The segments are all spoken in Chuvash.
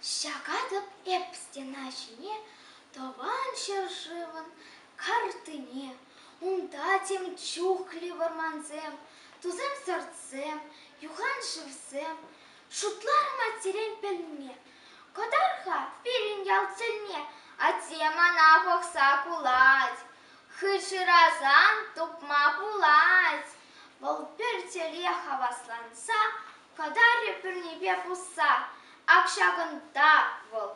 Ҫакатӑп эп стена ҫине Тӑван ҫӗршывӑн картине. Унта тем чухлӗ вӑрмансем, Тусем сӑртсем, юхан шывсем. Шутлар матерен пӗлме. Кӑтар-ха пирӗн ял тӗлне, Атте мана пӑхса кулать. Хыҫӑрасан тупма пулать. Вӑл пӗр тӗле хавасланса кӑтарӗ пӗрнипе пусса. Ак ҫакӑнта вӑл.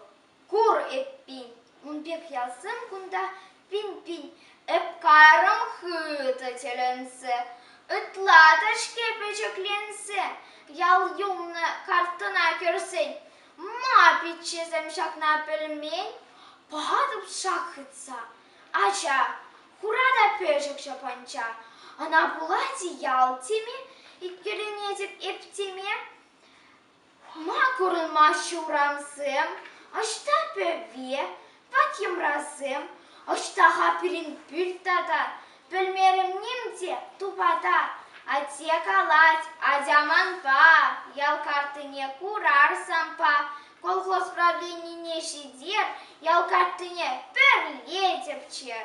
Кур эппин, ун пек ялсем кунта пин-пин ӗпкарӑм хытӑ тӗлӗнсе. Ытла та-ҫке пӗчӗкленсе ял юлнӑ картӑна кӗрсен. Ма пиччесем ҫакна пӗлмен? Патӑп шак хытса. Ача, хура та пӗчӗк ҫапанча. Ӑна пулать ял теми, иккӗленетӗп эп теме. Ма курӑнмаҫҫӗ урамсем, ӑҫта пӗве, пат йӑмрасем, ӑҫта-ха пирӗн пӳрт тата? Пӗлмерӗм ним те тупата. Атте калать, атя манпа, ял картине курар санпа. колхоз правленине ҫитер, ял картине пӗрле тӗпчер.